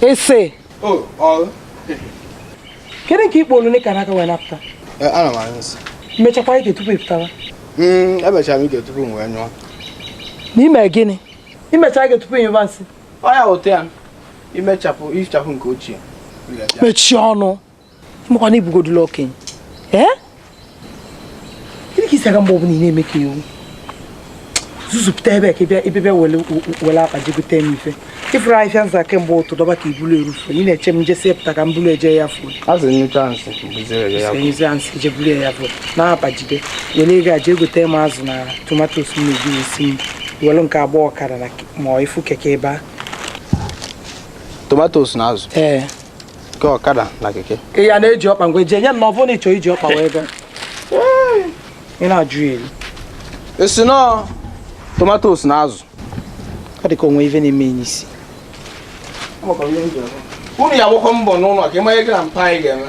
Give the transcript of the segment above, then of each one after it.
ese kedu nke ikpo olune ka n'aka wee napụta mechakwa ike tupu ịpụtawa emechara m ike tupu m wee nyụọ n'ime gịnị i mecha ike tupu ịnyụba nsị ọ ya wụta ya imechapụ ihichapụ nke ochie mechie ọnụ maka na ị bụgodula okenye ee gịnị ka isi aga mgbe ọbụla ị na-eme ka ị wụ zuzupụta ebe ka ebe bịa were akpa jee gote m ife ị fụrụ ahịhịa m za kemgbe ụtụtụ dọba ka i bulu erufu ị na-eche m nje sepụta ka m bulu eje ya fuo m sị a sị je bulu ya fuo na akpa jide were ego a jee gote m azụ na tomatos m na-eji esi nri were nke a gba ọkada na ma ị fụ keke ebe a tomatos na azụ ee Nke ọkada na keke. Ị ya na-eji ọkpa ngwa eji enye m na ọ bụrụ na ị chọọ iji ọkpa wee gaa. Ị na-ajụ ya elu. Ị sị na ọ tomatos na azụ. Ọ dị ka o nwe ife na-eme gị n'isi. Unu ya gbakọ mbọ n'ụlọ ka ị ma ihe gị na mpa anyị ga-eme.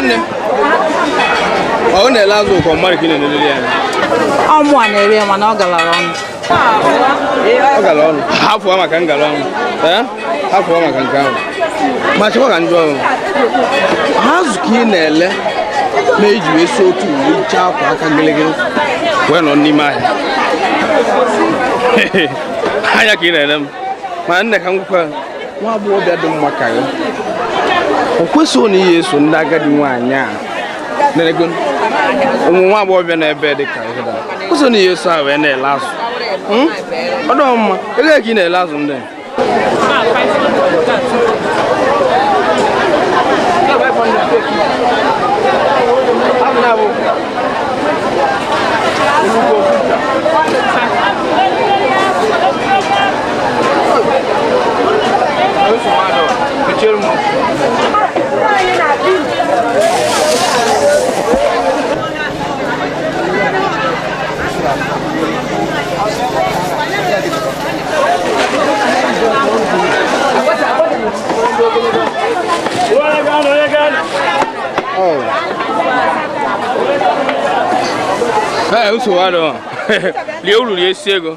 nne ọ na-ele azụ ọ kwa mmadụ ka ị na-elelele ya ọ mụ a na-ele ya mana ọ galara ọnụ ọ gara ọnụ hafụwa maka ngara ọnụ ee hafụwa maka nke ahụ ma chekwa ka m jụọ ọ bụ azụ ka ị na-ele na-eji wee si otu uwe iche akwa aka gịlịgịlị wee nọ n'ime ahịa anya ka ị na-ele m ma nne ka m gwakwa nwa agbọghọbịa dị mma ka ya o kwesịghị na ị ya-eso ndị agadi nwaanyị a na-ego ụmụ nwa agbọghọbịa na ebe dị ka ihe da kwesịghị na ị ya-eso a wee na-ele azụ Hmm? ọ dịghị mma ego ka ị na-ele azụ ndị a? nsogbu adịghị lie uru rie isi ego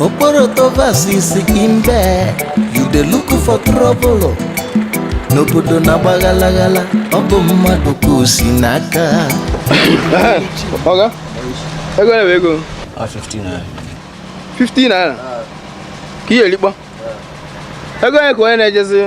okporoto versus mbe you dey look for trouble n'obodo na-agba ghalaghala ọ bụ mmadụ ka o si n'aka Oga, ego na ego. Ah, 15 naira. 15 naira. Ka ihe likpọ. Ego one ka onye na-ejezi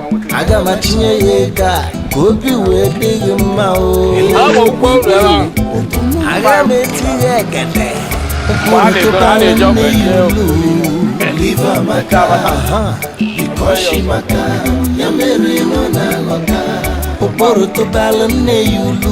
aga m atinye ya ego a ka obi wee dị gị mma o aga m etinye ekete ụkpụrụ tụbalụ nne ya ulu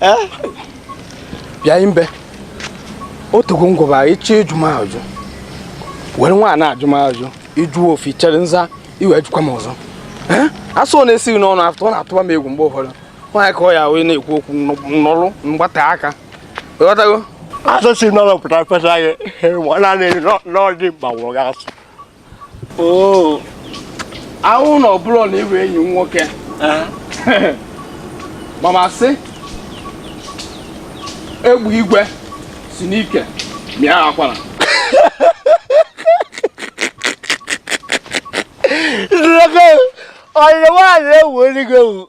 eh? bịa imbe otugo ngwụba ị chọọ ịjụ m ajụ were nwayọ na-ajụ m ajụ ị jụọ ofu chere m zaa i wee jụkwa m ọzọ eh? asụ ọ na-esi gị n'ọnụ apụ ọ na-atụba m egwu mgbe ụfọdụ nwaanyị ka ọ ya wee na-ekwu okwu n'ọrụ mgbata aka ịghọtago asụ si n'ọnụ pụta fesa gị nwanne n'ọdị mgbanwụrụ gị asụ oo ahụ na ọ bụrọ na ị bụ enyi m nwoke ma m asị egbe igwe si n'ike mịa akwara ọyịrị nwaanyị ewu eluigwe ewu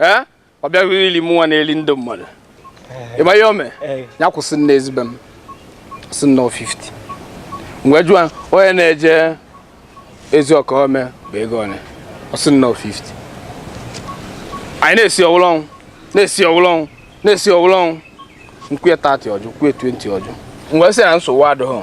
ee ọ bịaghị ili m nwa na-eli ndị mmadụ ị ma ihe o me ya kwụsị nne ezigbo m sị na ọ 50 m wee jụọ onye na-eje ezi ọka o me bụ ego one ọ sị na ọ 50 anyị na-esi ọwụlọ ọnwụ na-esi ọwụlọ ọnwụ na-esi ọwụlọ ọnwụ m kwe 30 ọ jụ m kwe 20 ọ jụ m wee sị na nsogbu adịghị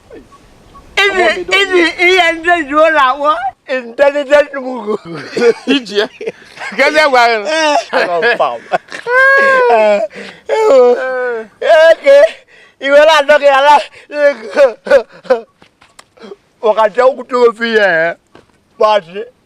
ụdị ihe ndị ji ụlọ awọ intelligent mugu iji ya gezi agwa ya eke iwe na-adọ gị ala ọkacha okwute ofe ya kpọchị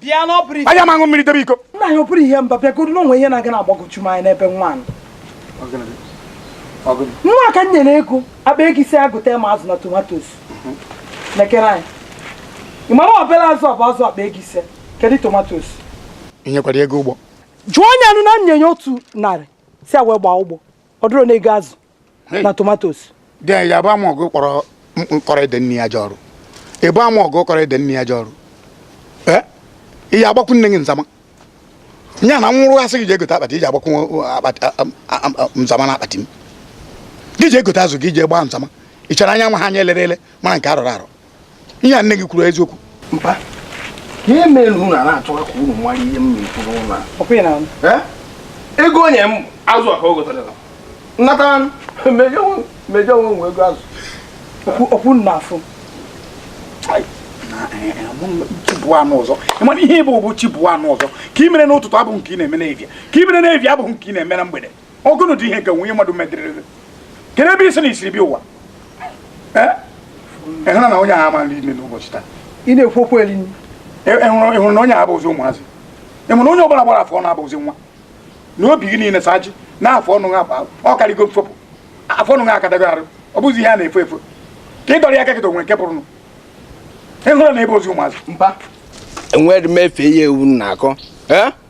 bịa na ọ bụrụ anyị ama aṅụ mmiri debe iko nna anyị ọ bụrọ ihe mba bịa godu na o nwe ihe na-aga na-agbagwoju m anya n'ebe nwa nọ. nwa ka m nyere ego akpa ego ise ya gota m azụ na tomatos lekene anya ị mara obele azụ ọ bụ azụ akpa ego ise kedu tomatos ị nyekwara ya ego ụgbọ jụọ ya nụ na m nye ya otu narị sị ya wee gbaa ụgbọ ọ dịrọ n'ego azụ na tomatos dị ya bụ ama ọgụ kọrọ ede nne ya je ọrụ ị bụ ama ọgụ kọrọ ede nne ya je ọrụ ị ya agbakwu nne gị nzama nya na nwụrụ a sị gị je egote akpati i je agbakwu nzama na akpati m gị je egote azụ gị je gbaa nzama ị chara anya nwa a anya e lere ele mara nke a rọrọ arọ ihe a nne gị kwuru eziokwu mpa ihe mere unu a na-achọwa ka unu mara ihe m na-ekwu n'ụlọ a Ọ kwa ị na-anụ? Eh? ego o nye m azụ a ka o gotere nnata mejọ mejọ onwe nwe ego azụ Okwu okwu nna afụ. chi bọọ a nụ ọzọ ị mara ihe ị bụ ị bụ chi bọọ a nụ ọzọ nke i mere n'ụtụtụ abụghị nke ị na-eme n'evia nke i mere n'evia abụghị nke ị na-eme na mgbede ọ gịnị dị ihe nke nwunye mmadụ mediriri kedu ebe ị sị na i siri bịa ụwa ịhụna na onye ahụ amala ime n'ụbọchị taa ị na-ekwu okwu eri ịhụrụ na onye ahụ abụzi ụmụazị ịhụrụ na onye ọbụla gbara afọ ọnụ abụzi nwa na obi gị niile saji na afọ ọnụ ha akpa ọ karịgo mfopụ afọ ọnụ ha akadago arụ ọ bụzi ihe a na-efo efo ka ị dọrọ ya kakịta onwe nke pụrụ ịhụrụ na ebe ozi ụmụazị mba enwere m efe ya ewu na-akọ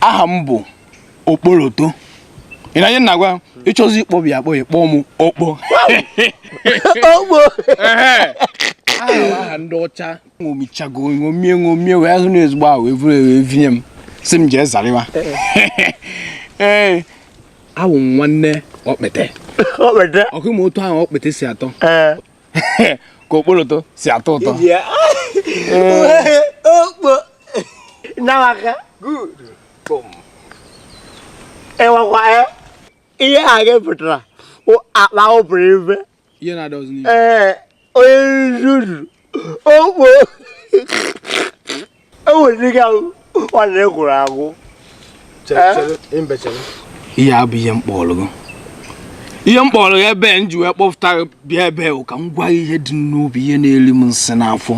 aha m bụ okporoto ị na-anụ ihe m na-agwa ị chọzi ịkpọbi akpọ ya kpọọ m okpo okpo aha ndị ọcha ṅomichago ṅomie ṅomie wee hụ na ezigbo aha wee vuru wee vinye m sị m jee zariwa ee eh. awụ nwanne okpete okpete ọkwa ị ma otu ahụ okpete si atọ eh. ka okporoto si atọ ụtọ okpo nawaka ịwakwa ya ihe aha gị pụtara akpa iberibe ee onye nzuzu okpo ihe a bụ ihe m kpọrọ gị ihe m kpọrọ ya ebe m ji wee kpọpụta bịa ebe ka m gwa ihe dị m n'obi ihe na-eri m nsị n'afọ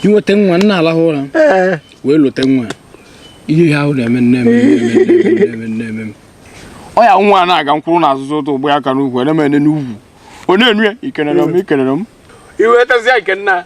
inweta nwa nna alahụ ụra wee lote nwa ihe ha ahụ na-eme nne m ọ ya nwa na-aga mkwụrụ n'azụzụ ụtọ ụgbọ ya aka n'ugwu ene m ene n'ugwu ọ na-enu ya ikenere m ikenere m iwetazi ikenna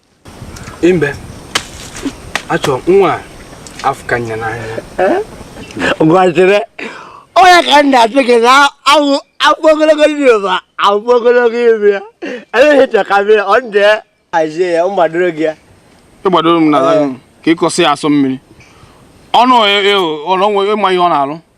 mbe achọ nwa afụka nya n'anya gwajire onye ka m na-asị gị na awụ afọ ogologo ndị ụba afọ ogologo ibe ya eleghị chọkabe ọ ndị azie ya mgbadoro gị ya ịgbadoro m n'ala ka ịkọsị ya asọ mmiri ọnụ ọnụ ịma ihe ọ na-alụ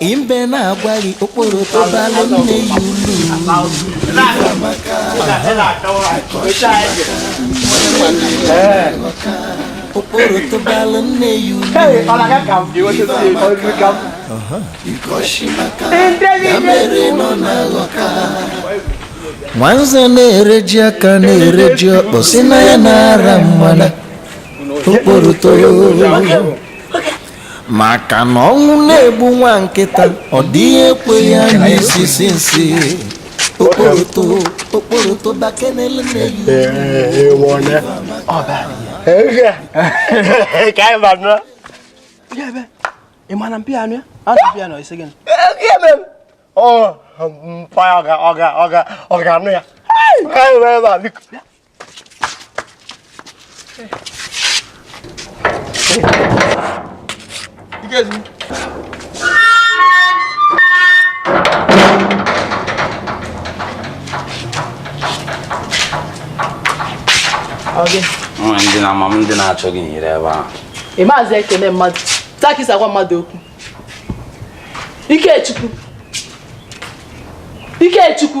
Mbe na-agwa gị okporoto balụ nne ya ulu okporoto balụ nne ya ulu ya mere nọ na-aghọ ka nwanze na-ere ji aka na-ere ji ọkpọ sị na ya na-ara mmana okporoto maka na ọnwụ na-egbu nwa nkịta ọ dịghị ekwe ya nụ isisi nsị okporoto okporoto bakenele na-eyi ka anyị ba nụọ ị ma na mpịa anụ ya a na mpịa nọ ise gịnị ọ ga-anụ ya ndị na ama m ndị na-achọ gị nyere ebe ahụ ị mazị ekene mmadụ ka ị si agwa mmadụ okwu Ikechukwu Ikechukwu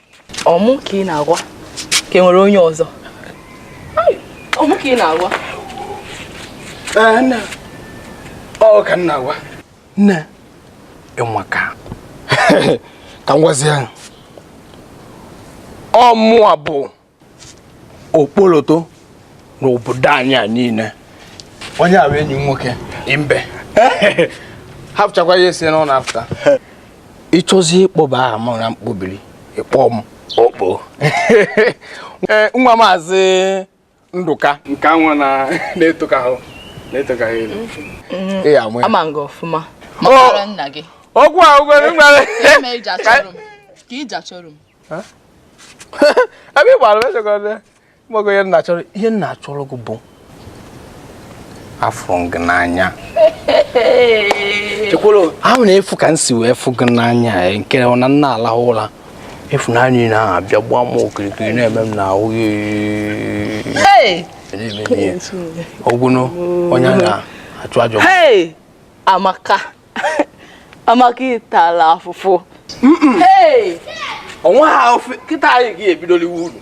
ọ mụ ka ị na-agwa ka e nwere onye ọzọ ọ mụ ka ị na-agwa nna ọ ka ị na-agwa nne ịnwa ka ka m gwazie ọ mụwa bụ okpoloto n'obodo anyị a niile onye a enyi m nwoke imbe hapụchakwa ya esi n'ụlọ apụta ị chọzi ịkpọba aha m na mkpọbiri ịkpọ m okpo eh, nwa maazị Ndụka nke anwa na-etoka ahụ na-etoka ha elu mm-hmm. ama m gị ọfụma oh! mara nna gị ọgwụ ahụ gwere mgbara ka iji achọrọ m ebe ị gbara mechọgọrọ mgbago ihe m na-achọrọ ihe m na-achọrọ gị bụ afụrụ m gị n'anya ahụ na-efu ka m si wee fụ gị n'anya eh, nke na m na-alahụ ụra ịfụnanya ị na-abịa gbaa m okirikiri na-eme m n'ahụ ogwuno onye na-achụ ajọ Amaka Amaka ị tala afụfụ onwe ha ofe kịta anyị ga-ebido liwe uru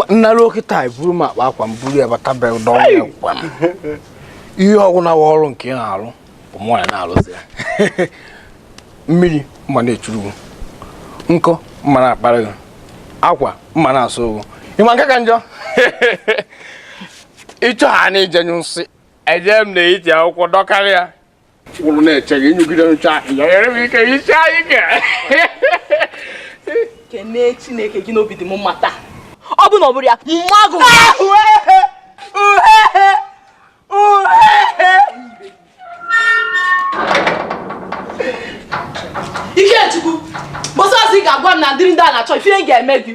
nna ruo kịta buru m akpa akwa m buru ya bata be dọwa akwa m ihe ọ bụna wa ọrụ nke ị na-arụ bụ mụ ya na-arụzi ya mmiri m ma na-echuru gị nkụ m ma na-akpara gị akwa m ma na-asụ gị ị ma nke ka njọ ị chọ ha na-eje ịnyụ nsị eje m na iti akwụkwọ dọkarịa kwụrụ na-eche gị nyụgide ncha nyere m ike isi anyị ke kene Chineke gị na obi dị m mma taa ọ bụ na ọ bụrọ ya mma gị Ikechukwu ọsọsọ ị ga-agwa m na ndị ndị a na-achọ ife a ga-eme gị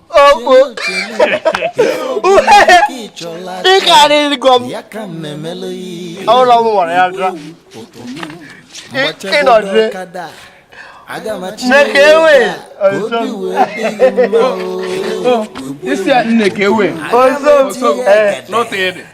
ogbo ị karịgo m ọhụrụ m nwere ya dra ịnọdụre Nneka ewe isi a Nneka ewe ọzọ m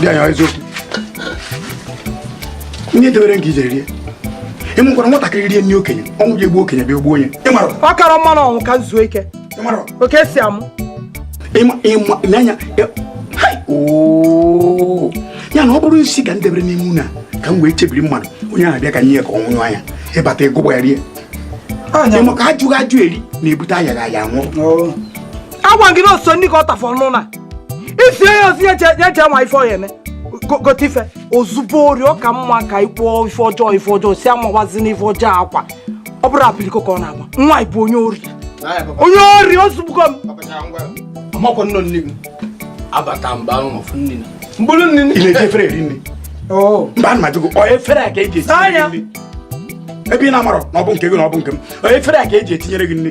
dị anya eziokwu onye debere nke i je rie ị makwara nwatakịrị rie nri okenye ọnwụ ji egbu okenye bịa ogbuo onye ọ kara mma ọnwụ ka zuo ike oke si amụ n'anya ya na ọ bụrụ nsị ka m debere n'ime nni ka m wee chebiri mmadụ onye ahụ bịa ka m nye ya ka ọ nwụnyụ anya ị bata ị gụgba ya rie ị ma ka ajụghị ajụ eri na-ebute ayaghị aya nwụọ agwa gị na oso ndị ka ọ tafọ n'ụlọ ife ya ozi ya je nwa ife ọya eme gote ife ozugbo ori ọ ka mma ka i kwuo ife ọjọọ ife ọjọọ si amawazi na ife ọjọọ akwa ọ bụrụ apiliko ka ọ na-agba nwa ị bụ onye ori onye ori o zugbugo m ọmakwa nnọ nne gị abata mba ahụ ọfụ nne na mkpụrụ nne ị na-eji efere eri nni oh. mba ana m ajụ gị ọ efere a ka eji esi nri ebe ị na-amarọ na ọ bụ nke gị na ọ bụ nke m ọ efere a ka eji etinyere gị nni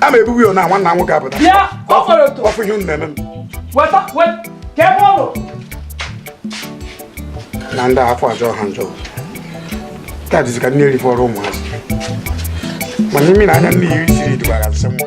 a ma ebubu ya na nwanna m nwoke apụta Ya, ọ fọrọ otu. ọfụ ihe unu na-eme m Weta, weta, ka ebe ọ nọ. na ndị afọ ajọ ha njọ ka dịzi ka nni erifọrọ ụmụazị mana imi na anya nni esiri dubara nsị nwa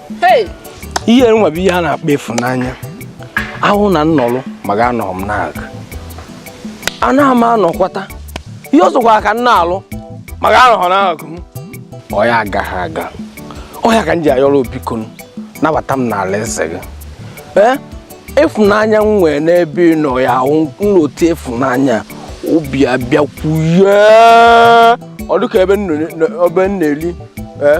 ihe nwa bụ ihe a na-akpọ ịfụnanya a wụ na m nọrọ ma gị anọghị m n'aka anaghị m anọkwata ihe ọ sọkwara ka m na-arụ ma gị anọghị n'akụ m ọ ya agaghị aga ọ ya ka m ji ayọrọ biko nabata m n'ala eze gị ee ịfụnanya m nwere n'ebe ị nọ ya wụ m lote ịfụnanya obi abịakwuye ọ dịka ebe m na-eli ee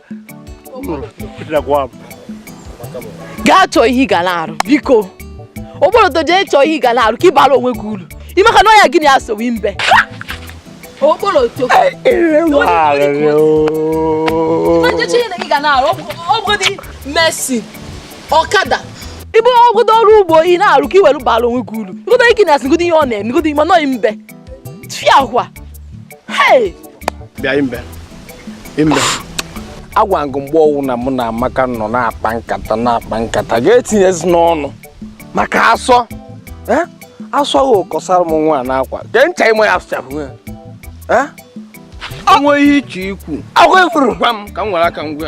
gaa chọọ ihe ị ga na-arụ biko okporoto jee chọọ ihe ị ga na-arụ ka ị bara onwe gị uru ime ka n'ọya gịnị ya sowe mbe okporoto mesin ọkada ibu ọ bụgodu ọrụ ugbo ị na-arụ ka ị were bara onwe gị uru igodo ike na-asị godo ihe ọ na-eme godo ime nọghị mbe tfia hwa bịa mbe mbe agwa m gị mgbe ọwụna mụ na amaka nọ na-akpa nkata na-akpa nkata gị etinyezina ọnụ maka asọ eh? asọ ahụ ọ kọsara m nwa n'akwa kee ncha ị ma ya asụchapụ ya eh? o nwee ihe ị chọ ikwu agwa ekwuru gwa m ka m were aka m gwa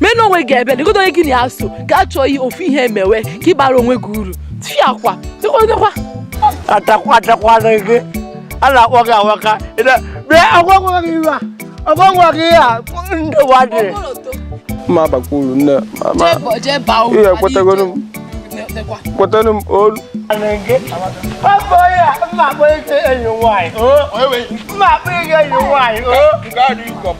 meere onwe gị ebere igodo onye gị na aso ka a chọọ ihe ofu ihe emewe ka ị bara onwe gị uru fiakwa dịkwadekwa atakwa atakwana gị a na-akpọ gị awaka bịa agwakwa gị ihe a agwakwa gị ihe a ndị ụwa dị ma abakwa uru nne ihe ekwetagoro m kwetara m ọlụ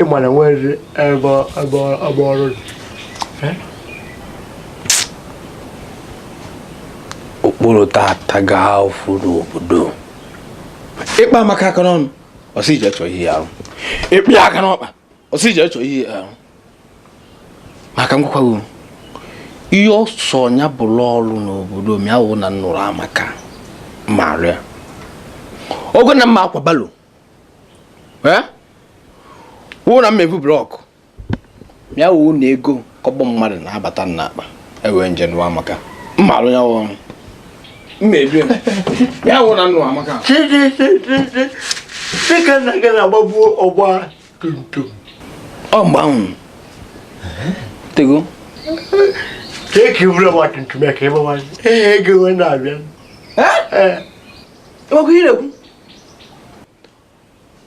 ị mara nwere ebe ebe ebe ọrụ dị. okporo tata gaa fụ n'obodo ị kpa Amaka aka n'ọnụ ọ sị ị je chọọ ihe ị ya-arụ ị kpa ya aka n'ọkpa ọ sị ị je chọọ ihe ị ya-arụ ma ka m gwakwa gị ihe ọ sọ ya bụrụ ọrụ n'obodo ma ya wụ na m nụrụ Amaka m ma-alụ ya ọ wụ na m ma-akwa barrow eh? ọ wụ na m ma-evu block ya wụ na ego kọbọ mmadụ na-abata n'akpa m wee je nụọ Amaka m ma-alụ ya ọrụ mmebi ya wụ na m nụọ Amaka dịka nna gị na-agbabu ọgba tum tum ọ mgbe ahụ tego Take you over what to make him one. Hey, go and I'll enwekwa ihe na-ekwu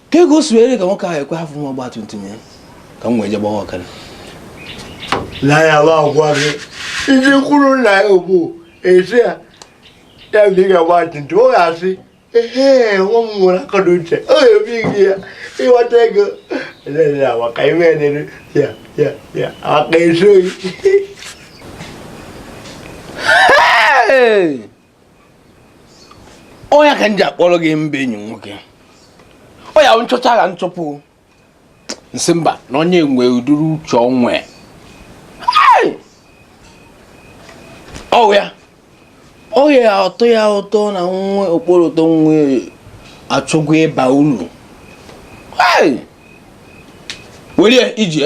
ka ego o siwere ka nwoke ahụ ekwe hafụ m ọgba tum tum ya ka m wee je gbawa ọkada na ya bụ agwa gị ndị kwuru na ya bụ esi ya ya bụ ị ga-agba tum tum ọ ga-asị ee nwa m nwere akọ na uche ọ ga-ebi gị ya ị ghọtago na-ere awa ka ime na-ere ya ya ya aka esoghị Hey! ọ ya ka m ji akpọrọ gị mba enyi nwoke ọ ya nchọcha ga nchọpụ m sị mba na onye nwe uduru uche onwe ọ wụ ya ọ ya-atọ ya ụtọ na nwa okporo ụtọ nwa achọgo ịba ulu welie ije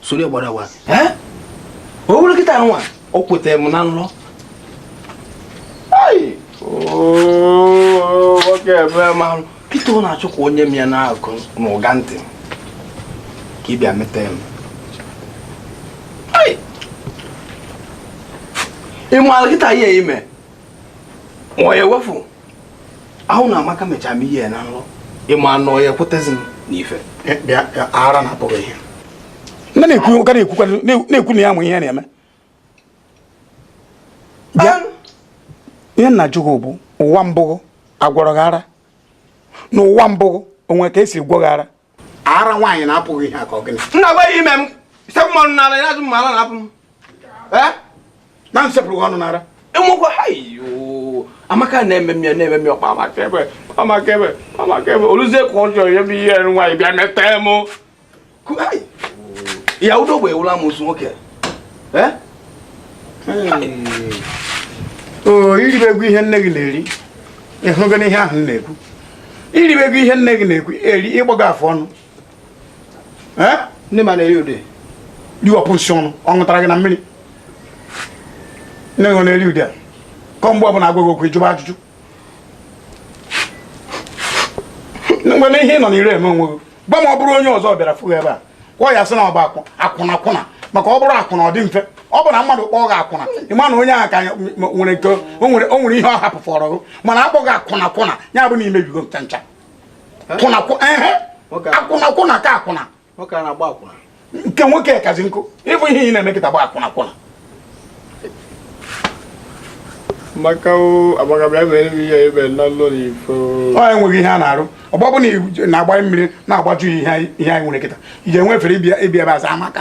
soro gbara wa o were kịta nwa o kwetara m na nlọ nwoke ebe marụ kịta ọ na-achọ ka o nye m ya na-agụ n'ụga ntị ka ị bịa metee m ị maara kịta ihe i me ma ọ ya ewefu ahụ na Amaka mechara m ihe na nrọ ị ma na ọ ya-ekwetezi m n'ife eh, eh, ara na-apụ gị ihe nne na-ekwu ka na-ekwu na ya ma ihe na-eme bịa ihe m na-ajụ gị bụ ụwa mbụ gị a gwọrọ gị ara na ụwa mbụ gị o nwe ka e si gwọ gị ara ara nwaanyị na-apụghị ihe aka ọgịnị nna gwa ime m ise mmanụ n'ala ya azụ mmanụ na-apụ m na nsepụrụ ọnụ n'ara enwekwa ha amaka na-eme m ya na-eme m ya ọkpa maka ebe maka ebe maka ebe oluzie ka ọ chọrọ ya bụ ihe nwaanyị bịa meta m ya udo gbe ewula m ozu nwoke o iribego ihe nne gị na-eri ịhụgo n'ihe ahụ m na-ekwu iribego ihe nne gị na-ekwu eri ị gbago afọ ọnụ ndị ma na-eri ude riwapụ nsị ọnụ ọ ṅụtara gị na mmiri nne gị na-eri ude kọ mgbe ọbụla a gwa gị okwu ị jụba ajụjụ mgbe na ihe ị nọ n'ire eme onwe gị gbam ọ bụrụ onye ọzọ bịara fụ gị ebe a ọ ya-asị na ọ bụ akwụna akwụna maka ọ bụrụ akwụna ọ dị mfe ọ bụ na mmadụ kpọọ gị akwụna ị ma na onye ahụ ka nwere nke o nwere ihe ọ hapụfọrọ gị mana a kpọọ gị akwụna akwụna ya bụ na i mebigo ncha ncha akwụna akwụna ka akwụna nke nwoke kazi nkụ ịbụ ihe ị na-eme kịta gba akwụna akwụna maka agbagabịa mere m ihe ebe na ụlọ n'ifo ọ enweghị ihe a na-arụ ọgbọ bụ na-agbanye mmiri na-agbaju ihe anyị nwere kịta ị ga-enwe efere ịbịa ebe aza amaka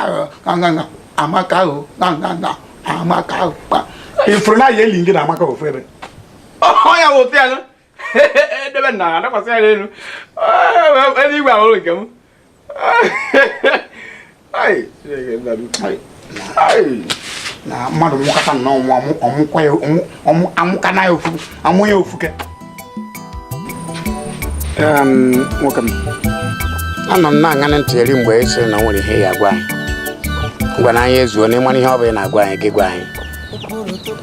amaka ahụ amaka ahụ ị fụrụ na ya eli gị na amaka ofu ebe ọ ya wụ ofe ya edebe na adakwasị ya n'elu eluigwe ahụrụ nke m na mmadụ nwụkata na ọnwụ amụkana ya ofu amụ ya ofuke nwoke m anọ m na-aṅanị ntị eri mgbe ị sị na o nwere ihe ị ya-agwa anyị ngwanụ anyị ezuona ị mara ihe ọ bụ ị na-agwa anyị gị gwa anyị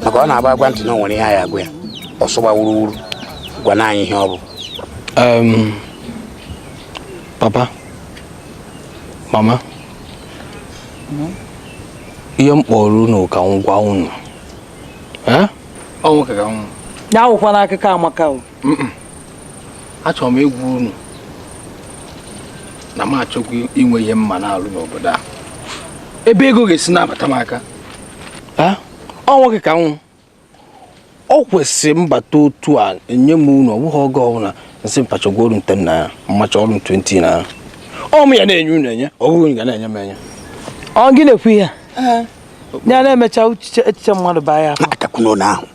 maka ọ na-agba agwa ntị na o nwere ihe anyị agwa ya ọsọgba wuruwuru gwanụ anyị ihe ọ bụ papa mama ihe m kpọrọ unu ka m gwa unu ọ nwoke ka m wụ ya awụkwana akụkọ amaka o achọrọ m ịgwa unu na m achọgo inwe ihe m ma na-alụ n'obodo a ebe ego ga-esi na-abata m aka ọ nwoke ka m wụ ọ kwesịrị m bata otu a enye m unu ọ bụghị oge ọbụla m sị mpa chakwarụ m 10 naira mma chaarụ m 20 naira ọ mụ ya na-enye unu enye ọ bụghị unu ga na-enye m enye ọ gị na-ekwu ihe ya na-emecha echiche mmadụ baa ya akakwuno na ahụ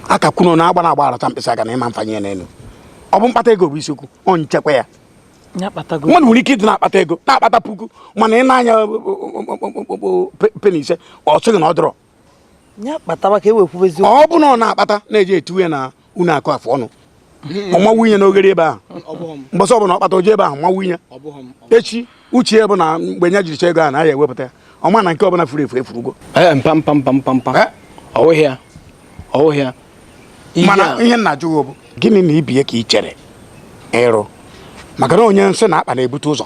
akakwuno na agba na agba arata mkpịsị aka na ị ma mfanye ya n'elu ọ bụ mkpata ego bụ isiokwu ọ nchekwa ya mmadụ nwere ike ịdị na-akpata ego na-akpata puku mana ị na-anya peni ise ọ sịghị na ọ dọrọ ọ bụ na ọ na-akpata na-eji etinye na ụnọ akụ afọ ọnụ ọ na-awụnye n'oghere ebe ahụ mbọsị ọbụla ọ kpata o je ebe ahụ na-awụnye eche uche bụ na mgbe nya jiricha ego a na ya ewepụta ya ọ ma na nke ọbụla furu efu efurugo mana ihe m na-ajụ gị bụ gịnị na ibie ka ị chere ịrụ maka na onye nsị na-akpa na-ebute ụzọ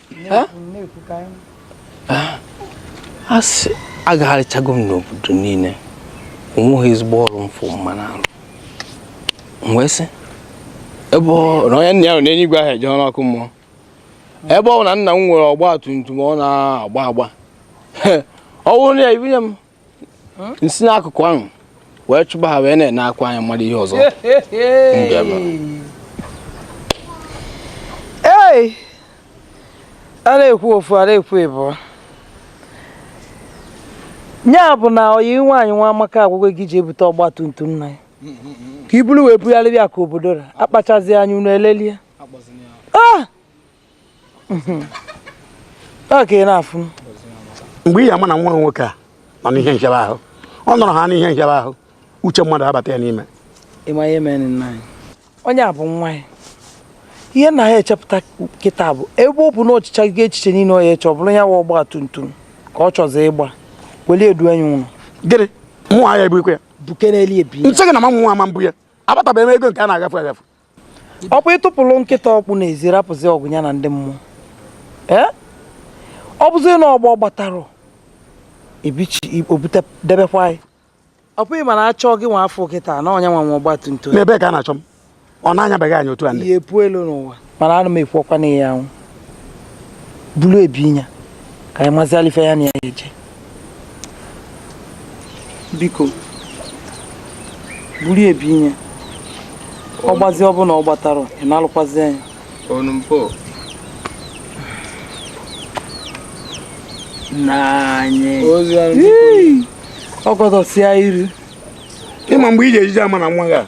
asị agagharịchago m n'obodo niile o nweghị ezigbo ọrụ m fụ m ma na-arụ wee sị ebe na onye nna ya nọ n'eluigwe anaghị eje n'ọkụ mmụọ ebe ọ bụ na nna m nwere ọgba tum tum ọ na-agba agba ọ bụrụ na ya ibunye m m si n'akụkụ ahụ wee chụba ha wee na-enekwa anya mara ihe ọzọ ee a na-ekwu ofu a na-ekwu ịbụa ya bụ na oyi nwaanyị nwamaka agwago gị je bute ọgba tum tum nna ya ka i bulu wee bugharịbịa ka obodo ra akpachazi anya unu elelie ah! mgbe ị ya-ama na nwa nwoke a nọ n'ihe nchebe ahụ ọ nọrọ ha n'ihe nchebe ahụ uche mmadụ abata ya n'ime onye a bụ nwa ya ihe na ha echepụta kịta bụ ebe ọ bụ na o chechago echiche niile ọ ya eche ọ bụrụ ya wa ọgba tum tum ka ọ chọzi ịgba wee edu enyi ụlọ gịnị mụ ahịa ebukwe ya bukere elie bi m sị gị na ma mụ ama mbụ ya abatabeghị m ego nke a na-agafe agafe ọkwa ị tụpụrụ nkịta ọkpụ n'ezi rapụzi ọgụ ya na ndị mmụọ ee ọ bụzi na ọ gba gbatara ebichi o bute debekwa ya ọ bụghị mana achọ gị nwa afọ kịta na onye nwe nwe ọgba tum tum n'ebe ka a na-achọ m ọ na-anyabeghị anya otu a ndị ya epu elu n'ụwa mana ana m ekwu okwu a na ya anwụ bulu e binye ka anyị mazịala ife ya na ya eje biko buru e binye ọ gbazi ọ bụ na ọ gbatara ị na-alụkwazi anya ọ gọdọsịa iru ị ma mgbe ị ga-ejizi ama na nwa gị a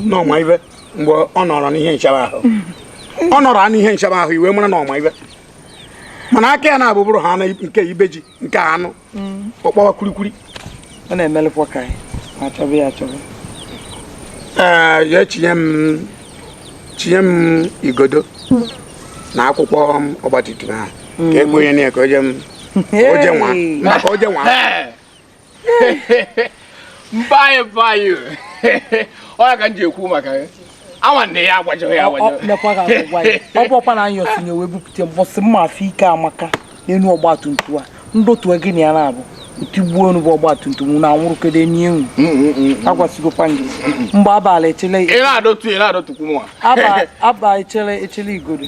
na ọ ma ihe mgbe ọ nọrọ n'ihe nchebe ahụ ọ nọrọ n'ihe nchebe ahụ i wee mara na ọ ma ihe mana aka ya na-abụbụrụ ha nke ibe ji nke anụ ọkpọwa kwurikwuri ọ na-emelụkwa ka anyị achọba ya achọba ee ya echinye m chinye m igodo na akwụkwọ ọgbatumtum ahụ ka egbe onye na ya ka oje nwa maka oje nwa mbaye mbaye ọ ya ka m ji ekwu maka ya nwanne ya agbajighị ya agbajighị mekwa ka agwụgwa ya ọ bụ ọkwa na anyị ọsịnye wee bupụta mbọsị m ma afụ ike amaka n'elu ọgba tum tum a m dọtụ gị na ya na-abụ tigbuo onu bụ ọgba tum tum na anwụrụ kedu enyi enwu agwasigokwa gị mgbe abalị echele ị na-adọtu ị na-adọtukwu mụnwa aba aba echele echele igodo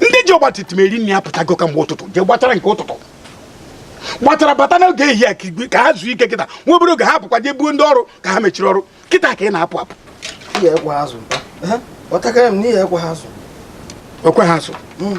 ndị ji ọgba tum tum eri nri apụtago kamgbe ụtụtụ jee gbatara nke ụtụtụ gbachara bata n'oge ehihie ka igwe ka ha zuo ike kịta nwa obere oge ha apụkwa jee buo ndị ọrụ ka ha mechiri ọrụ kịta ka ị na-apụ apụ ekpe ha azụ hmm.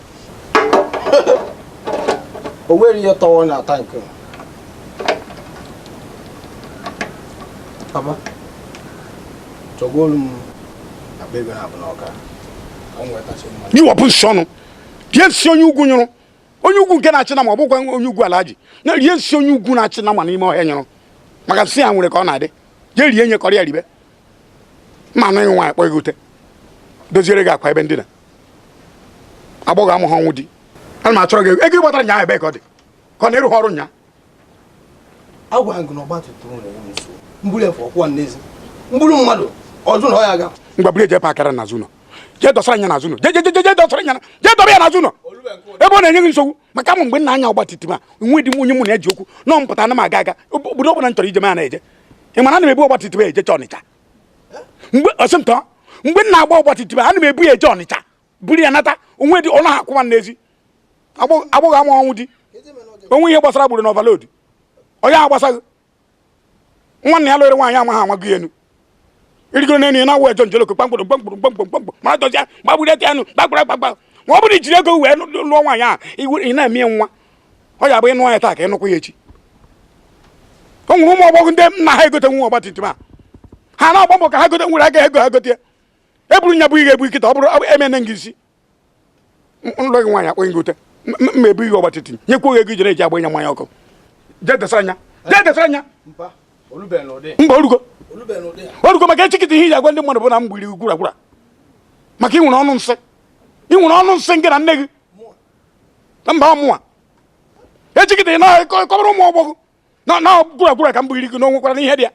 o nwere ihe tọwọ na tankị papa chọgolu m akpa ego na abụ n'ọka ka m nwetachi mma gị wepụ nsị ọnụ rie nsị onye ugwu nyụrụ onye ugwu nke na-achị nama ọ bụkwa onye ugwu alaji na rie nsị onye ugwu na-achị nama n'ime ọhịa nyụrụ maka nsị ya nwere ka ọ na-adị jee rie nye kọrọ ya ribe ma anaghị nwaanyị kpọ gị ute doziere gị akwa ebe ndina agbọghọ amaghị ọnwụ di ana m achọrọ gị ego ego gbatara nyaa ebe ka ọ dị ka ọ na-ịrụghị ọrụ nyaa agwa gị na ọgba tum tum na-enye m nsogbu m buru efe akwụwa n'ezi m buru mmadụ ọzọ na ọ ya aga ngwa buru eje pakara n'azụ ụlọ jee dọsara nya n'azụ ụlọ jee dọsara nya jee dọba ya n'azụ ụlọ ebe ọ na-enye gị nsogbu maka mụ mgbe nna anya ọgba tum tum a nwe di m onye mụ na ya ji okwu na ọ m pụta ana m aga aga obodo ọ bụla m chọrọ ije m a na-eje ị mara ana m ebu ọgbatumtum ejecha ọnịcha mgbe ọsịmtọ mgbe m na-agba ọgbatumtum ana m ebu ya eje ọnịcha buru ya nata onwe dị ọnụ ha akwụwa n'ezi agbọghọ ama ọnwụ di onwe ihe gbasara buru na overload onye ahụ gbasaghị nwanne ya lụrụ nwaanyị amaghị amaghị elu irigoro n'elu ya na-awụ ejo njoloko kpamkpụrụ kpamkpụrụ kpamkpụrụ kpamkpụrụ ma dọzia gbagburu ete anụ gbagburu agbagba ma ọ bụrụ i jiri ego wee lụọ nwaanyị ahụ ị na-eme nwa ọ ya bụ ị nụ ya taa ka ị nụkwa ya echi o nwere ụmụ agbọghọ ndị nna ha egote nwa ọgbatumtum a ha na-agba mbọ ka ha gote nwere aga ego ha gote e buru nya bụ ihe ebu kịta ọ bụrụ emene gị isi nlọ gị nwaanyị akpọ gị ute mma ebu ihe ọgbatumtum nyekwa oge ego ijere eji agba ịnya mmanya ọkụ jee dọsara nya jee dọsara nya mba orugo orugo maka echi kịta ihe iji agwa ndị mmadụ bụ na m gbiri gwuragwura maka ị nwere ọnụ nsị ị nwere ọnụ nsị nke na nne gị na mba mụwa ejigide na kọbara ụmụ agbọghọ na na gwuragwura ka m bụghịrị gị na o nwekwara ihe dị ya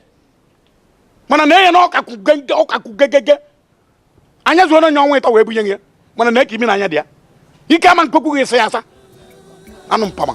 mana na enye na ọkakwụ gege ọkakwụ gegege anya zuo onye ọnwa ịtọ wee bunye gị ya mana na eke imi na anya dị ya ike ama m kwa ka ị ga-esi ya asa anụ mpama